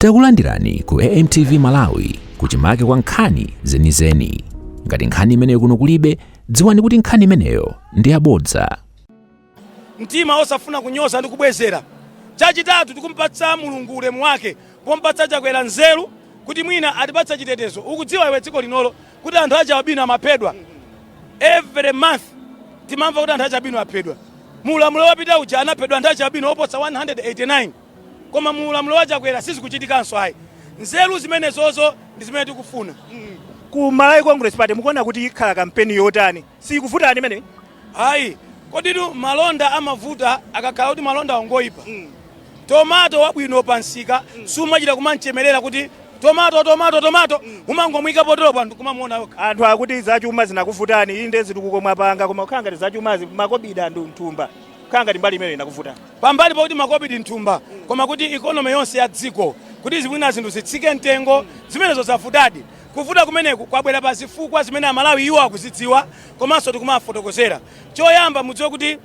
Takulandirani ku AMTV Malawi kuchimake kwa nkhani zenizeni. Ngati nkhani imeneyo kuno kulibe, dziwani kuti nkhani imeneyo ndi yabodza. mtima osafuna kunyoza ndi kubwezera chachitatu tikumpatsa mulungu ulemu wake pompatsa chakwera nzeru kuti mwina atipatsa chitetezo ukudziwa iwe dziko linolo kuti anthu achialubino amaphedwa every month timamva kuti anthu achialubino aphedwa mu ulamuliro wapita uja anaphedwa anthu achialubino oposa 189 Koma mu ulamuliro wa Chakwera sizikuchitikanso ayi. Nzeru zimenezozo ndi zimene tikufuna. Ku Malawi Congress Party mukuona kuti ikhala kampeni yotani? Siikuvutani imeneyi? Ayi. Koditu malonda amavuta akakhala kuti malondawo ngoipa. Tomato wabwino pamsika sumachita kum'chemerera kuti, Tomato, tomato, tomato! Umangomuika poteropo anthu n'kumamuona okha. Anthu akuti zachuma zinakuvutani. Inde zitukuko mwapanga koma kukhala ngati zachumazi makobidi anthu m'thumba. kukhala ngati mbali imene inakuvuta pambali pakuti makobidi mthumba koma kuti ikonomi yonse ya dziko kuti mwina zinthu zitsike mtengo zimenezo zavutadi kuvuta kumeneku kwabwera pa zifukwa zimene amalawi iwo akuzidziwa komanso tikumafotokozera choyamba mudziwe kuti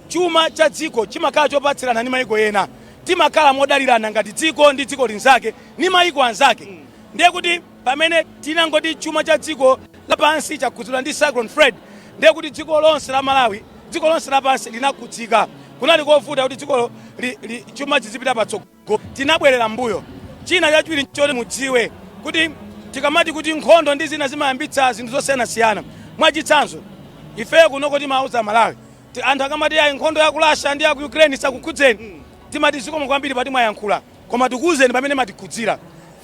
chuma cha dziko chimakhala chopatsirana ndi mayiko ena timakhala modalirana ngati dziko ndi dziko linzake ni mayiko anzake ndiye kuti Pamene tinangoti chuma cha dziko la pansi chakhudzidwa ndi Cyclone Freddy, ndiye kuti dziko lonse la Malawi, dziko lonse la pansi linakhudzika. Kunali kovuta kuti dziko li, li, chuma chizipita patsogolo. Tinabwerera m'mbuyo. China chachiwiri nchoti mudziwe kuti tikamati kuti nkhondo ndi zina zimayambitsa zinthu zosiyanasiyana. Mwachitsanzo, ifeyo kunoko timauza Amalawi, ti, anthu akamati ayi nkhondo ya ku Russia ndi ya ku Ukraine isakukhudzeni, timati zikomo kwambiri poti mwayankhula. Koma tikuuzeni pamene imatikhudzira.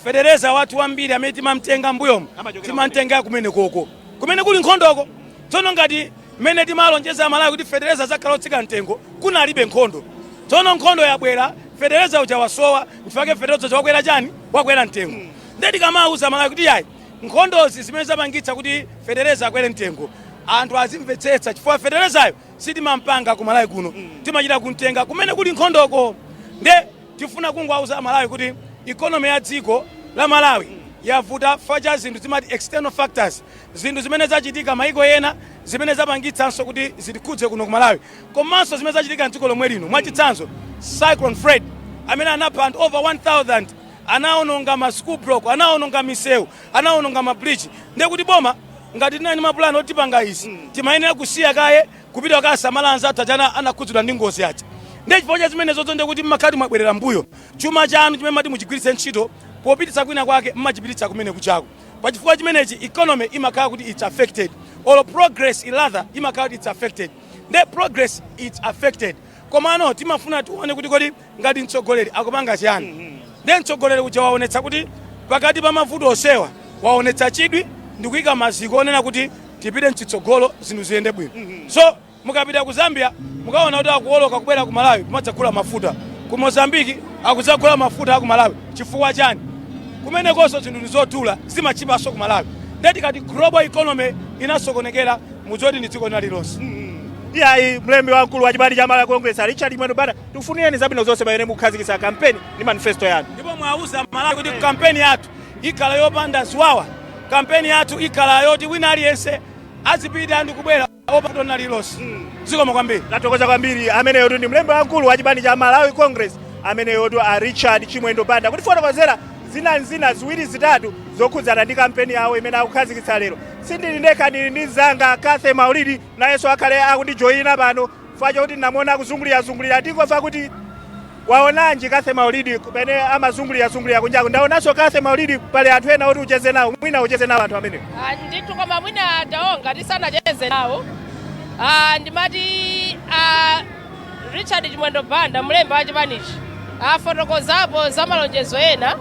Fetereza wathu wambiri amene timam'tenga m'mbuyomu timam'tenga kumenekoko, kumene kuli nkhondoko. Tsono ngati mmene timalonjeza Amalawi kuti fetereza adzakhala wotsika mtengo, kunalibe nkhondo. Tsono nkhondo yabwera, fetereza uja wasowa, n'chifukwa chake fetereza uja wakwera chani? Wakwera mtengo. Ndiye tikamauza Amalawi kuti iyayi, nkhondo ndi zimene zapangitsa kuti fetereza akwere mtengo, anthu azimvetsetsa chifukwa feterezayo sitimam'panga ku Malawi kuno, timachita kum'tenga kumene kuli nkhondoko. Ndiye. Tifuna kungowauza a Malawi kuti economy ya dziko la Malawi yavuta chifukwa cha zinthu timati external factors, zinthu zimene zachitika m'maiko ena zimene zapangitsanso kuti zitikhudze kuno ku Malawi komanso zimene zachitika m'dziko lomwe lino mwachitsanzo Cyclone Freddy amene anapha anthu over 1000, anaononga ma school block, anaononga misewu, anaononga ma bridge ndekuti boma ngati tinali ndi mapulani oti tipanga izi timayenera kusiya kaye. kupita kukasamala anzathu aja ana- anakhudzidwa ndi ngozi aja ndiye chifukwa cha zimenezozo ndiye kuti mmakhala mwabwerera mbuyo chuma chanu chimene mmati muchigwiritse ntchito popititsa kwina kwake mmachipititsa kumene kujako pa chifukwa chimenechi economy imakhala kuti its affected or progress rather imakhala kuti its affected ndiye progress its affected komano timafuna tione kuti kodi ngati mtsogoleri akupanga chiyani ndiye mtsogoleri uja waonetsa kuti pakati pa mavuto onsewa waonetsa chidwi ndikuyika maziko onena kuti tipite mchitsogolo zinthu ziyende bwino so mukapita ku zambia mukaona kuti akuoloka kubwera ku malawi kumadzagula mafuta ku mozambiki akudzagula mafuta ku malawi chifukwa chani kumenekonso zinthu ndizodula zimatchipanso ku malawi ndiye tikati global economy inasokonekera muzoti ndi dziko lina lililonse iyayi mlembi wamkulu wa chipani cha malawi congress a richard chimwendo banda Tikufunireni zabwino zonse pamene mukukhazikitsa kampeni ndi manifesto yanu. Ndipo mwauza Amalawi kuti kampeni yathu ikhala yopanda ziwawa, kampeni yathu ikhala yoti wina aliyense azipita ndi kubwera opanda dona lililonse. Zikomo kwambiri. Tathokoza kwambiri ameneyotu ndi mlembi wamkulu wa chipani cha Malawi Congress ameneyotu a Richard Chimwendo Banda kutifotokozera zinanzina ziwiri zitatu zokhudzana ndi kampeni yawo imene akukhazikitsa lero. Sindili ndekha ndili ndi mzanga Kathy Maulidi nayenso akhale akundijoyina pano Chifukwa chokuti ndinamuona akuzungulirazungulira tikamve kuti waonanji Kathy Maulidi kumene amazungulirazungulira kunjaku. Ndaonanso Kathy Maulidi, pali anthu ena oti ucheze nawo, mwina ucheze nawo anthu amenewo. Ah, ndithu koma mwina ataonga tisanacheze nawo ah, ndimati ah, richard chimwendo banda mlembi wa chipanichi afotokozapo za malonjezo ena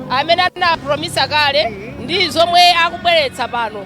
amene anapulomisa kale ndi zomwe akubweretsa pano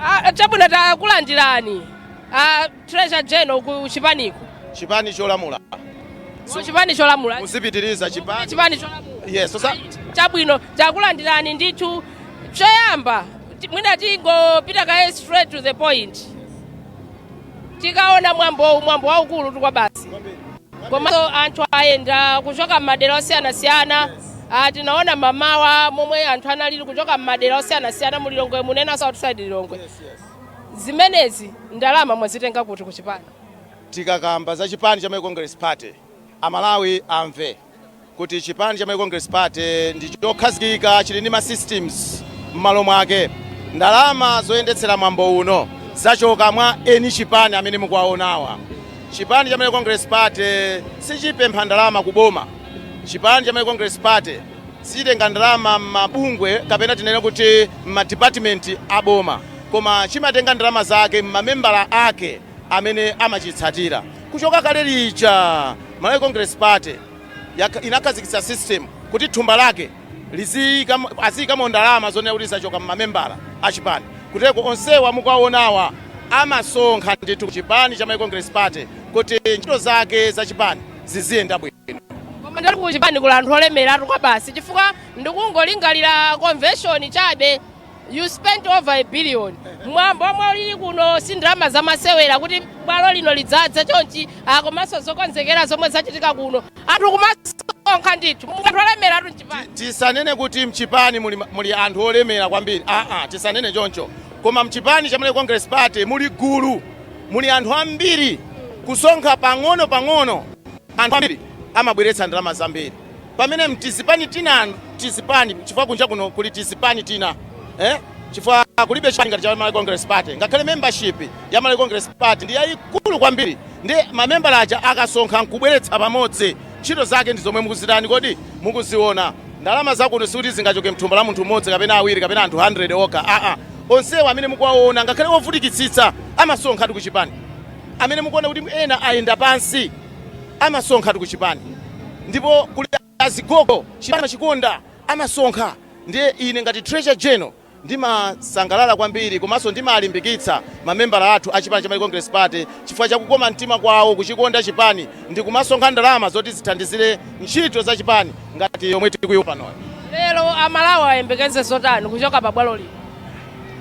Ah, chabwino takulandirani ah, treasurer general ku chipaniko chipani cholamula Ku chipani cholamula muzipitiriza chipani chipani cholamula yes osa chabwino takulandirani ndithu choyamba ti- mwina tingopita kaye straight to the point tikaona mwambowu mwambo waukulu tu kwabasi komanso anthu ayenda kuchoka m'madera osiyanasiyana Ah, tinaona mamawa momwe anthu analili kuchoka m'madera osiyanasiyana mu lilongwe muno and also outside lilongwe zimenezi ndalama mwazitenga kuti kuchipani tikakamba za chipani cha Malawi Congress Party amalawi amve kuti chipani cha Malawi Congress Party ndi chokhazikika, chili ndi ma systems mmalo mwake. Ndalama zoyendetsera mwambo uno zachoka mwa eni chipani amene mukuwaonawa. Chipani cha Malawi Congress Party sichipempha ndalama ku boma. Chipani cha Malawi Congress Party sichitenga ndalama mmabungwe kapena tinene kuti mma department a boma, koma chimatenga ndalama zake mmamembala ake. amene amachitsatira. Kuchoka kale lija Malawi Congress Party yakha, inakhazikitsa system kuti thumba lake liziyikamo, aziyikamo ndalama zonena kuti zachoka mmamembala a chipani. Kuteko onsewa mukuwaonawa amasonkha ndithu ku chipani cha Malawi Congress Party kuti ntchito zake za chipani ziziyenda bwino. Koma ndati kuchipani kuli anthu olemeratu kwabasi, chifukwa ndikungolingalira convention chabe You spent over a billion. Mwambo omwe ulili kuno si ndalama zamasewera kuti bwalo lino lidzadze chonchi ah, komanso zokonzekera zomwe zachitika kuno anthu kumasonkha ndithu anthu olemeratu mchipani tisanene kuti mchipani muli, muli anthu olemera kwambiri aa tisanene choncho koma mchipani cha Malawi congress party muli gulu muli anthu ambiri kusonkha pang'ono pang'ono anthu ambiri amabweretsa ndalama zambiri pamene mtizipani tina tizipani chifukwa kunja kuno kuli tizipani tina eh? chifukwa kulibe chipani ngati cha Malawi Congress Party ngakhale membership ya Malawi Congress Party ndi yayikulu kwambiri ndi mamembala aja akasonkha nkubweretsa pamodzi ntchito zake ndi zomwe mukuzitani kodi mukuziona ndalama zakuno sikuti zingachoke mthumba la munthu mmodzi kapena awiri kapena anthu 100 okha aa onsewa amene mukuwaona ngakhale ovutikitsitsa amasonkhatu kuchipani amene mukuona kuti ena ayenda pansi amasonkhatu kuchipani ndipo kuli azigogo chipani amachikonda amasonkha ndiye ine ngati treasurer general ndimasangalala kwambiri komanso ndimalimbikitsa mamembala athu a chipani cha Malawi Congress Party chifukwa cha kukoma mtima kwawo kuchikonda chipani ndi kumasonkha ndalama zoti zithandizire ntchito za chipani ngati yomwe tikuyiona panoyo lero amalawi ayembekeze zotani kuchoka pa bwalo lino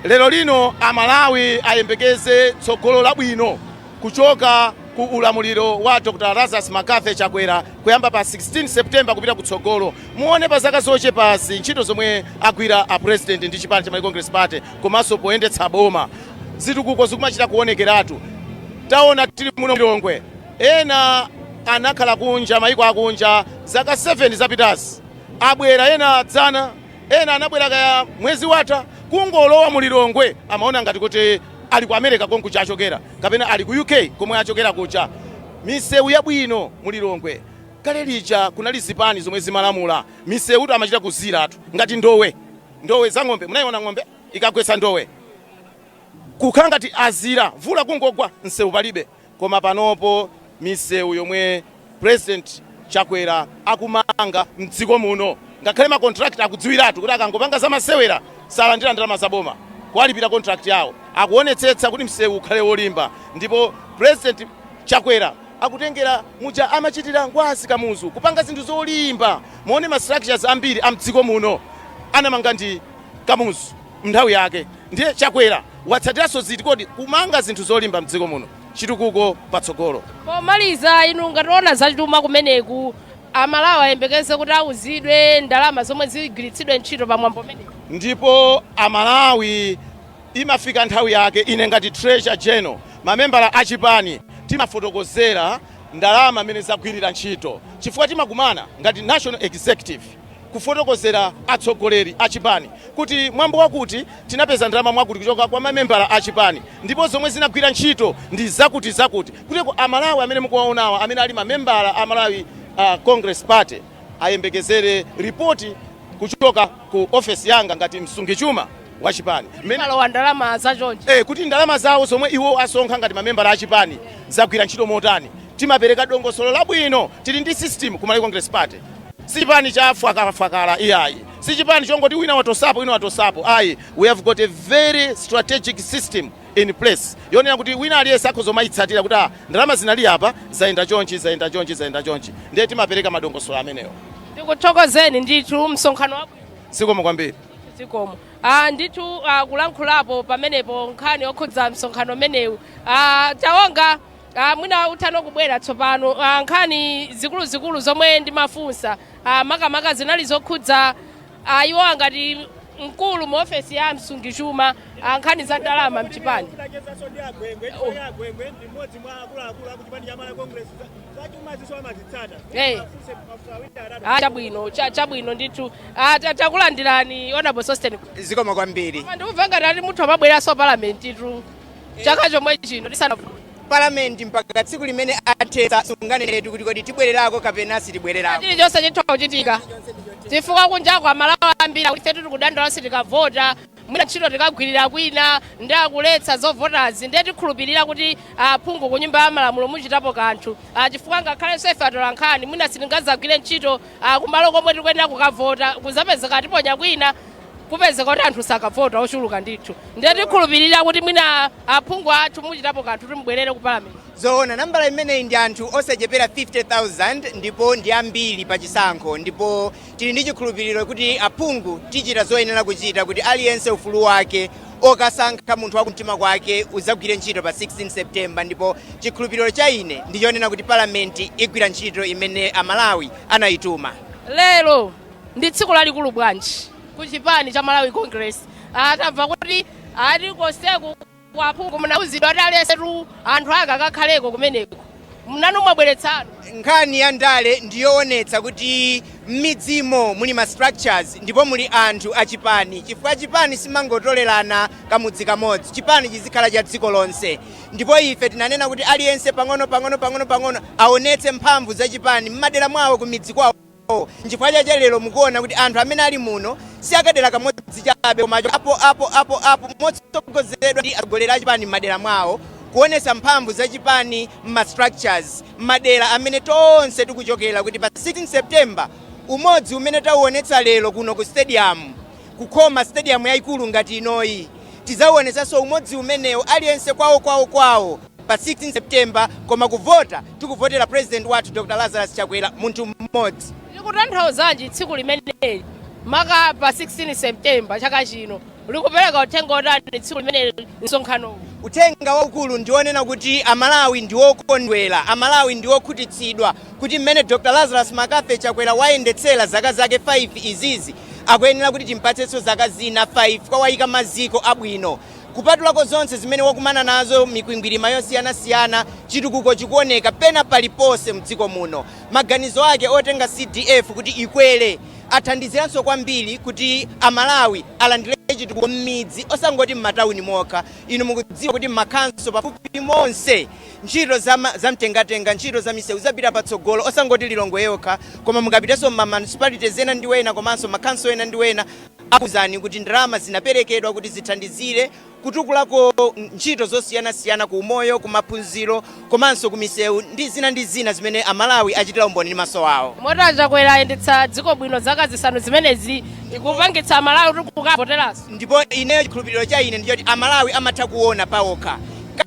lero lino amalawi ayembekeze tsogolo labwino Kuchoka ku ulamuliro wa Dr Lazarus Mccarthy Chakwera kuyamba pa 16 September kupita kutsogolo, muone pa zaka zochepazi ntchito zomwe agwira a President ndi chipani cha Malawi Congress Party komanso poyendetsa boma, zitukuko zikumachita kuonekeratu. Taona tili muno ku Lilongwe, ena anakhala kunja maiko akunja zaka 7 zapitazi abwera, ena dzana, ena anabwera kaya mwezi watha, kungolowa mu Lilongwe amaona ngati kuti ali ku America konkuja achokera kapena ali ku UK komwe achokera kuja, misewu yabwino mu Lilongwe. Kale lija kunali zipani zomwe zimalamula, misewutu amachita kuziratu ngati ndowe. Ndowe za ng'ombe, munayiona ng'ombe ikagwetsa ndowe? Kukhala ngati azira, mvula kungogwa msewu palibe. Koma panopo misewu yomwe president Chakwera akumanga mdziko muno ngakhale ma contractor akudziwiratu kuti akangopanga zamasewera salandira ndalama za boma kuwalipira contract yawo akuonetsetsa kuti msewu ukhale wolimba ndipo president Chakwera akutengera muja amachitira Ngwazi Kamuzu kupanga zinthu zolimba muone ma structures ambiri a mdziko muno anamanga ndi Kamuzu. mnthawi yake ndiye chakwera watsatiranso ziti kodi kumanga zinthu zolimba mdziko muno chitukuko patsogolo pomaliza inu ngati oona zachuma kumeneku amalawi ayembekeze kuti auzidwe ndalama zomwe zigwiritsidwe ntchito pa mwambo umenewu ndipo amalawi imafika nthawi yake ine ngati treasurer general mamembala a chipani timafotokozera ndalama mmene zagwirira ntchito chifukwa timakumana ngati national executive kufotokozera atsogoleri a chipani kuti mwambo wakuti tinapeza ndalama mwakuti kuchoka kwa mamembala a chipani ndipo zomwe zinagwira ntchito ndi zakuti zakuti kuteko amalawi amene mukuwaonawa amene ali mamembala a malawi uh, congress party ayembekezere ripoti kuchoka ku ofesi yanga ngati msungichuma wa chipani mmene malowa ndalama za chonchi. eh, kuti ndalama zawo zomwe iwo asonkha ngati mamembala a chipani zagwira ntchito motani timapereka dongosolo labwino tili ndi system ku Malawi Congress Party si chipani cha fwakalafwakala iyayi si chipani chongoti wina watosapo wina watosapo ayi we have got a very strategic system in place yonena kuti wina aliyense akhoza kumayitsatira kuti ah, ndalama zinali apa zayenda chonchi zayenda chonchi zayenda chonchi ndiye timapereka madongosolo amenewo Tikuthokozeni ndithu msonkhano wabwino. zikomo kwambiri zikomo ah, ndithu ah, kulankhulapo pamenepo nkhani yokhudza msonkhano umenewu ah, tawonga ah, mwina uthano kubwera tsopano ah, nkhani zikuluzikulu zomwe ndimafunsa ah, makamaka zinali zokhudza ah, iwowa ngati mkulu mu ofesi ya msungichuma Ah, nkhani za ndalama mchipani Ndachezanso ndi agwengwe, Oh. chifukwa agwengwe ndi mmodzi mwa akuluakulu a kuchipani cha Malawi Congress. Za- Zachumazinso amazitsata. Eh. Afunse mafunso awiri atatu. Ah, chabwino cha- chabwino ndithu Ah, ta- takulandirani honorable sosten zikomo kwambiri Koma ndikumva ngati ati mutha kumabwereranso palamentitu chaka chomwe chino tisana palamenti mpaka tsiku limene athetsa sunganenetu kuti kodi tibwererako kapena sitibwererako chili chonse chitha kuchitika chifukwa kunjaku amalawi ambiri akuti ifetu tikudandaula sitikavota mwina ntchito tikagwirira kwina ndiye akuletsa zovotazi ndiye tikhulupirira kuti aphungu ku nyumba ya malamulo muchitapo kanthu Ah, chifukwa ngakhalenso ife atolankhani mwina sitingazagwire ntchito ah, kumalo komwe tikuyenera kukavota kuzapezeka tiponya kwina kupezeka kuti anthu sakavota ochuluka ndithu ndiye tikhulupirira kuti mwina aphungu athu muchitapo kanthu ndiye mubwerere ku palamenti zoona nambala imeneyi ndi anthu osachepera 50000 ndipo ndi ambiri pa chisankho ndipo Tili ndi chikhulupiliro kuti aphungu tichita zoyenera kuchita kuti aliyense ufulu wake okasankha munthu wa kumtima kwake udzagwire ntchito pa 16 September ndipo chikhulupiliro cha ine ndi chonena kuti Parliament igwira ntchito imene a Malawi anaituma. Lero ndi tsiku lalikulu bwanji ku chipani cha Malawi Congress tamva kuti ati konseku. Kwa aphungu munauzidwa kuti aliyensetu anthu ake akakhaleko kumeneko. Inunso mwabweretsa anu. Nkhani ya ndale ndi yoonetsa kuti m'midzimo muli ma structures ndipo muli anthu a chipani chifukwa chipani simangotolerana kamudzi kamodzi. Chipani chizikhala cha dziko lonse ndipo ife tinanena kuti aliyense pang'ono pang'ono pang'ono pang'ono aonetse mphamvu za chipani m'madera mwawo kumidzi kwawo. Ndipo nchifukwa chache lero mukuona kuti anthu amene ali muno si a kadera kamodzi chabe koma achokapo apo apo apo motsogozedwa ndi atsogoleri a chipani m'madera mwao kuonesa mphamvu za chipani m'ma structures m'madera amene tonse tikuchokera kuti pa 16 September umodzi umene tauonetsa lero kuno ku stadium kukhoma stadium yaikulu ngati inoyi tidzauonesanso umodzi umenewo aliyense kwao kwao kwao pa 16 September koma kuvota tikuvotera president wathu Dr Lazarus Chakwera munthu mmodzi. Likutanthauzanji tsiku limeneli maka pa 16 September chaka chino likupereka uthenga otani tsiku limeneli msonkhanowu? Uthenga waukulu ndi onena kuti Amalawi ndi okondwera, Amalawi ndi okhutitsidwa kuti mmene Dr Lazarus McCarthy Chakwera wayendetsera zaka zake 5 izizi akuyenera kuti timpatsenso zaka zina 5 chifukwa wayika maziko abwino. Kupatulako zonse zimene wakumana nazo mikwingwirima yosiyana siyana chitukuko chikuoneka pena paliponse mdziko muno. Maganizo ake otenga CDF kuti ikwere athandiziranso kwambiri kuti a Malawi alandire chitukuko mmidzi osangoti mmatauni mokha. Inu mukudziwa kuti mma khanso pafupi monse ntchito zama za mtengatenga, ntchito za miseu zapita patsogolo osangoti Lilongwe yokha koma mukapitenso mma municipalities ena ndi wena komanso ma khanso ena ndi wena. akuuzani kuti ndalama zinaperekedwa kuti zithandizire kutukulako ntchito zosiyanasiyana ku umoyo, ku maphunziro komanso ku misewu ndi zina ndi zina zimene a Malawi achitira umboni ndi maso awo. Moti a Chakwera ayendetsa dziko bwino zaka zisanu zimenezi zikupangitsa a Malawi kuti kukavoteranso? Ndipo ineyo chikhulupiliro cha ine ndi choti a Malawi amatha kuona paokha.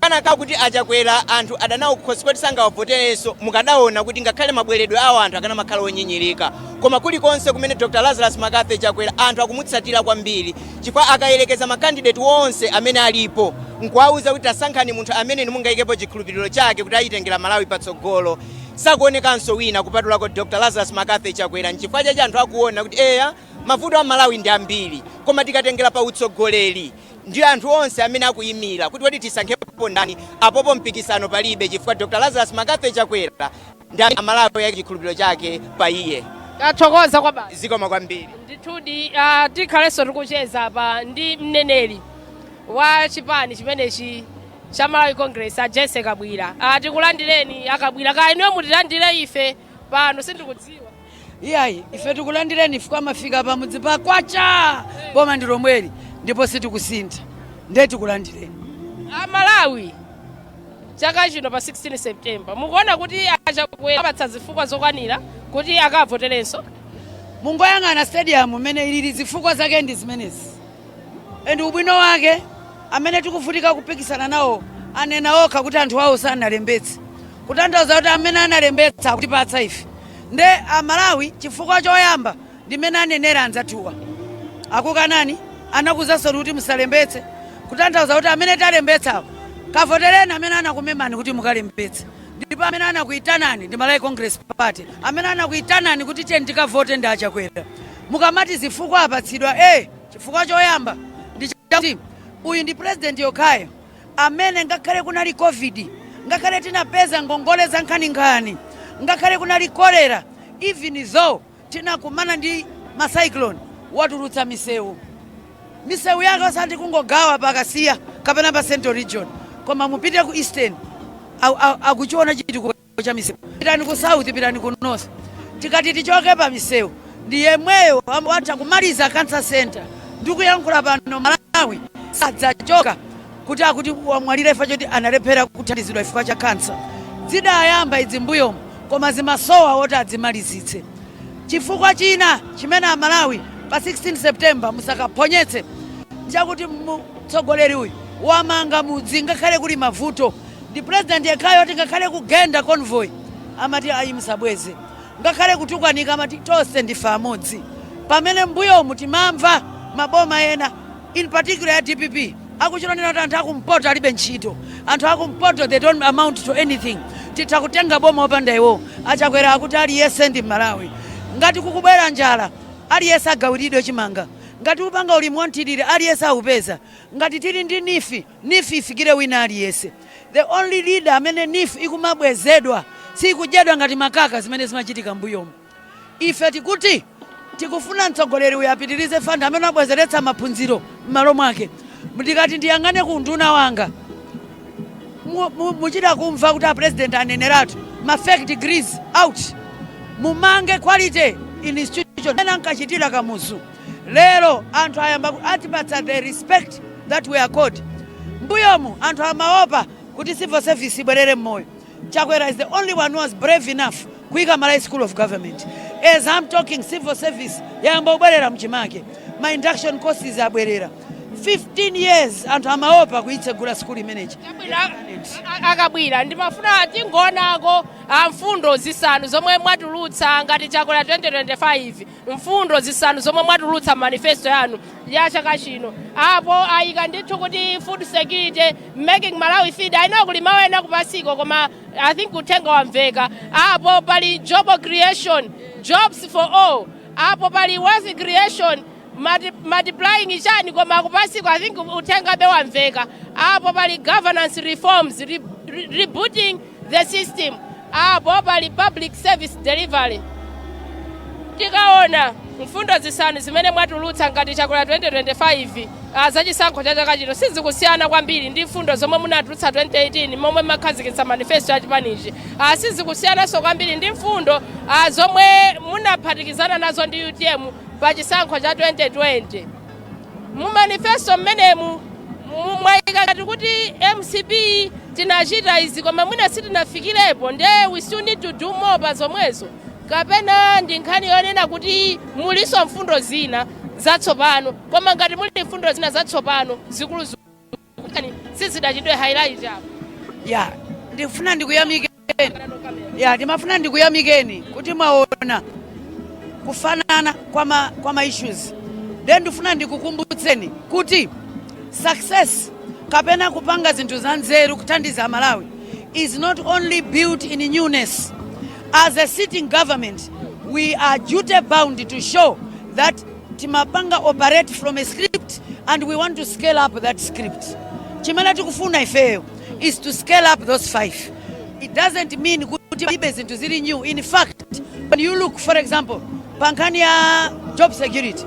Kanakhala kuti a Chakwera anthu ada nawo kukhosi koti sangawavoterenso, mukadaona kuti ngakhale mabweredwe awo anthu akanamakhala onyinyirika. Koma kulikonse kumene Dr Lazarus McCarthy Chakwera anthu akumutsatira kwambiri chifukwa akayerekeza ma candidate onse amene alipo nkuwauza kuti tasankhani munthu amene inu mungaikepo chikhulupiliro chake kuti aitengera Malawi patsogolo sakuonekanso wina kupatulako Dr Lazarus McCarthy Chakwera nchifukwa chache anthu akuona kuti eya mavuto a Malawi ndi ambiri koma tikatengera pa utsogoleri ndi anthu onse amene akuimira kuti kodi tisankhepo ndani apopo mpikisano palibe chifukwa Dr Lazarus McCarthy Chakwera ndi amene amalawi ayika chikhulupiriro chake pa iye tathokoza kwabasi zikomo kwambiri ndithudi ah, tikhalenso tikucheza apa ndi mneneri wa chipani chimenechi cha Malawi Congress a Jessie Kabwila Ah, tikulandireni a Kabwila kaya inuyo mutilandire ife pano sindikudziwa iyayi ife tikulandireni chifukwa mwafika pa mudzi pa Kwacha boma ndi lomweli ndipo sitikusintha ndiye tikulandireni amalawi chaka chino pa 16 september mukuona kuti a Chakwera awapatsa zifukwa zokwanira kuti akavoterenso mungoyang'ana stadium mmene ilili zifukwa zake ndi zimenezi and ubwino wake amene tikuvutika kupikisana nawo anena okha kuti anthu awo sanalembetse kutanthauza kuti amene analembetsa akutipatsa ife ndi amalawi chifukwa choyamba ndimene anenera anzathuwa akukanani anakuuzansoni kuti musalembetse kutanthauza kuti amene talembetsawo kavotereni amene anakumemani kuti mukalembetse ndipo amene anakuyitanani ndi malawi congress party amene anakuyitanani kuti tiyeni tikavote ndi achakwera Mukamati zifukwa apatsidwa A, chifukwa choyamba ndi chakuti uyu ndi president yekhayo amene ngakhale kunali Covid, ngakhale tinapeza ngongole zankhaninkhani, ngakhale kunali cholera, even though tinakumana ndi ma cyclone, watulutsa misewu. Misewu yake osati kungogawa pa Kasiya kapena pa Central Region koma mupite ku Eastern akuchiona chitukuko. chitukuko cha misewu pitani ku south pitani ku north tikati tichoke pa misewu ndi yemweyo watha kumaliza cancer center ndikuyankhula pano malawi sadzachoka kuti akuti wamwalira ifa choti analephera kuthandizidwa chifukwa cha kansa zidayamba idzi mbuyomu koma zimasowa woti adzimalizitse chifukwa china chimene amalawi pa 16 september musakaphonyetse ndi chakuti mtsogoleri uyu wamanga mudzi ngakhale kuli mavuto Ndi president yekhayo oti ngakhale kugenda convoy amati ayi musabweze, ngakhale kutukwanika amati tonse ndife amodzi, pamene mmbuyomu timamva maboma ena in particular ya dpp akuchita kunena kuti anthu akumpoto alibe ntchito, anthu akumpoto they don't amount to anything, titha kutenga boma opanda iwowo. A Chakwera akuti aliyese ndi Mmalawi, ngati kukubwera njala aliyese agawiridwe chimanga, ngati upanga ulimi wa mthirira aliyese aupeza, ngati tili ndi Neef, Neef ifikire wina aliyese. The only leader amene neef ikumabwezedwa siikudyedwa ngati makaka zimene zimachitika mmbuyomu. Ife tikuti tikufuna mtsogoleri uyu apitilize fund amene abwezeretsa maphunziro mmalo mwake. Ndikati ndiyang'ane ku unduna wanga muchita kumva kuti a president aneneratu ma fake degrees out. Mumange quality institution mmene ankachitira Kamuzu. Lero anthu ayamba kutipatsa the respect that we accord. Mmbuyomu anthu amaopa kuti civil service ibwerere mmoyo. Chakwera is the only one who was brave enough kuika Malawi School of Government. As I'm talking civil service yayamba kubwerera mchimake. Ma induction courses abwerera. 15 years anthu amaopa kuitsegula school imeneyi. A Kabwila ndimafuna tingoonako mfundo zisanu zomwe mwatulutsa ngati chakwera 2025 mfundo zisanu zomwe mwatulutsa mu manifesto yanu ya chaka chino apo ayika ndithu kuti food security making malawi fed ayi ndi kuli mawu ena kupansiko koma i think uthenga wamveka apo pali job creation jobs for all apo pali wealth creation multi- multiplying chani koma akupansiko i think uthengabe wamveka apo pali governance reforms re, re, rebooting the system apo pali public service delivery tikaona mfundo zisanu zimene mwatulutsa ngati chakwera 2025 ah, za chisankho cha chaka chino sizikusiyana kwambiri ndi mfundo zomwe munatulutsa 2018 momwe mumakhazikitsa manifesto ya chipanichi ah, sizikusiyananso kwambiri ndi mfundo ah, zomwe munaphatikizana nazo ndi utm pa chisankho cha 2020 mu manifesto mmenemu mu- mwayika ngati kuti mcp tinachita izi koma mwina sitinafikirepo nde we still need to do more pa zomwezo kapena ndi nkhani yonena kuti mulinso mfundo zina zatsopano koma ngati muli mfundo zina zatsopano zikuluzikulu kutani sizidachitidwe highlight apo ya ndifuna ndikuyamikeni ya ndimafuna ndikuyamikeni kuti mwaona kufanana kwa ma, kwa ma issues then ndifuna ndikukumbutseni kuti success kapena kupanga zinthu za nzeru kuthandiza amalawi is not only built in newness as a sitting government we are duty bound to show that Timapanga operate from a script and we want to scale up that script. Chimene tikufuna ifeyo is to scale up those five. It doesn't mean kuti palibe zinthu zili new. In fact, when you look for example, pa nkhani ya job security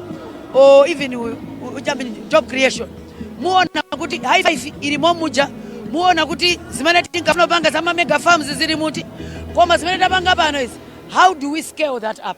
or even u- u- I mean, job creation, muona kuti high five ilimo muja, muona kuti zimene tinkafuna panga za ma mega farms zili muti, koma zimene tapanga pano is how do we scale that up?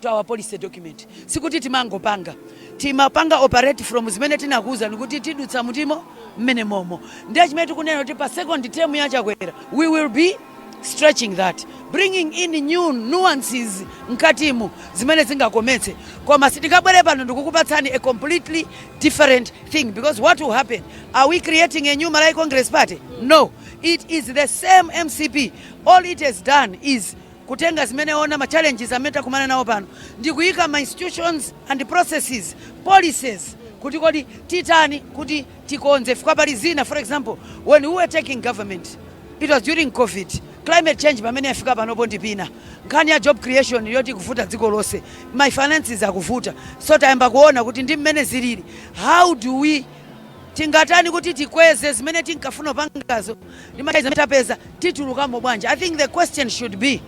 to our policy document sikuti timangopanga timapanga operate from zimene tinakuwuzani kuti tidutsa mutimo mmene momo ndiye chimene tikunena kuti pa second term ya chakwera we will be stretching that bringing in new nuances mkatimu zimene zingakometse koma sitingabwere pano ndikukupatsani a completely different thing because what will happen are we creating a new malawi congress party no it is the same mcp all it has done is kutenga zimene ona ma challenges amene takumana nawo pano ndi kuyika ma institutions and processes, policies kuti kodi titani kuti tikonze chifukwa pali zina for example when we were taking government it was during covid climate change pamene yafika panopo ndi pena nkhani ya job creation yoti ikuvuta dziko lonse ma finances akuvuta so tayamba kuona kuti ndi mmene zilili how do we tingatani kuti tikweze zimene tinkafuna pangazo ndimatha izi zimene tapeza titulukamo bwanji i think the question should be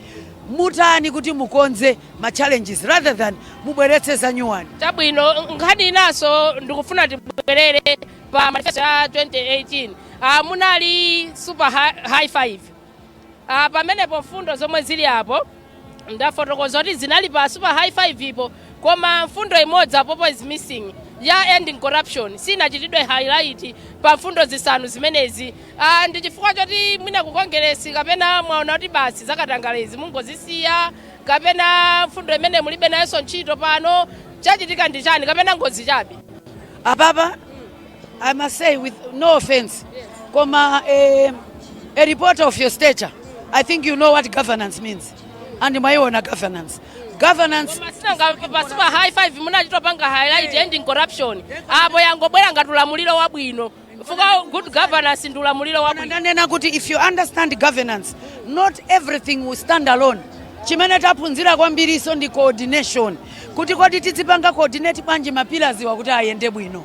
mutani kuti mukonze ma challenges rather than mubweretse zanyuwani chabwino nkhani inanso ndikufuna tibwerere pa manifesto ya 2018 ah, munali super hi- high five ah, pamenepo mfundo zomwe zili apo ndafotokoza kuti zinali pa super high five po koma mfundo imodzi apopo is missing ya ending corruption siinachitidwe highlight pa mfundo zisanu zimenezi ah, ndi chifukwa choti mwina ku kongeresi kapena mwaona kuti basi zakatangalezi mungozisiya kapena mfundo imene mulibe nayonso ntchito pano chachitika ndi chani kapena ngozi chabe apapa I must say with no offense, Koma, a, a reporter of your stature, I think you know what governance means. Ayi ndimaiona governance. Governance. pa super high five munachitopanga highlight ending corruption apo yangobwera ngati ulamuliro wabwino fuka good governance ndi ulamuliro wabwino ndanena kuti if you understand governance not everything will stand alone chimene taphunzira kwambirinso ndi coordination kuti kodi tizipanga coordinate bwanji mapillarswa kuti ayende bwino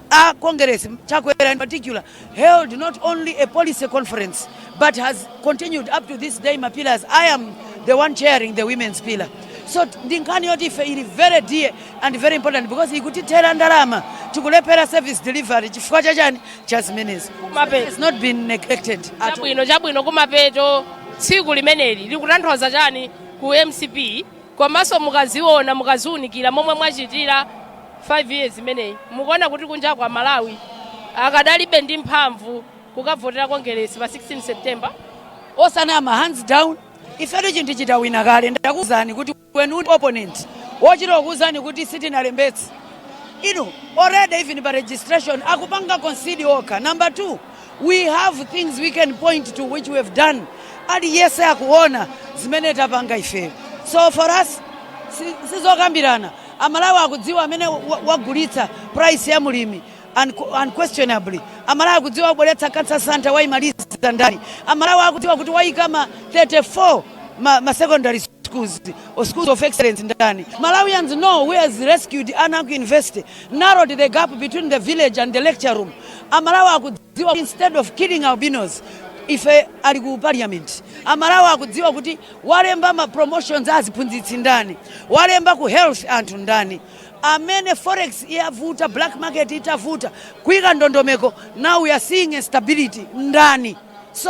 A Kongeresi, Chakwera in particular, held not only a policy conference but has continued up to this day mapillars. I am the one chairing the women's pillar. So ndi nkhani yoti ife ili very dear and very important because ikutithera ndalama tikulephera service delivery chifukwa cha chani cha zimenezo. It's not been neglected at all. chabwino kumapeto tsiku limeneli likutanthauza chani ku mcp Komanso mukaziona, mukaziunikira momwe mwachitira 5 years imeneyi mukuona kuti kunjaku a Malawi akadalibe ndi mphamvu kukavotera Kongeresi pa 16 September? Osanama, hands down, ifetu chinthu tidawina kale ndakuuzani kuti when u opponent wochita kukuuzani kuti sitinalembetse inu already even pa registration akupanga concede okha. Number 2. We have things we can point to which we have done. Aliyese akuona zimene tapanga ifeyo. So for us si- sizokambirana amalawi akudziwa amene wa- wagulitsa price ya mulimi unqu- unquestionably amalawi akudziwa wabweretsa cancer center waimaliza ndani amalawi akudziwa kuti waika ma 34 ma secondary schools or schools of excellence ndani malawians know who has rescued ana ku university narrowed the gap between the village and the lecture room amalawi akudziwa instead of killing albinos ife ali ku parliament amalawi akudziwa kuti walemba ma promotions aziphunzitsi ndani walemba ku health anthu ndani amene forex itavuta black market itavuta kuika ndondomeko now we are seeing a stability ndani so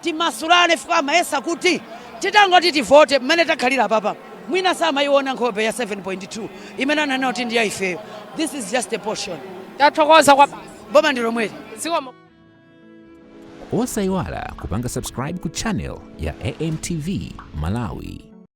Timasulane chifukwa amayesa kuti titangoti tivote mmene takhalira apapa mwina samaiona nkhope ya 7.2 imene ananena kuti ndi ya ifeyo. This is just a portion. Tathokoza kwambiri. Boma ndi lomweli. Zikomo. Osaiwala kupanga subscribe ku channel ya AMTV Malawi.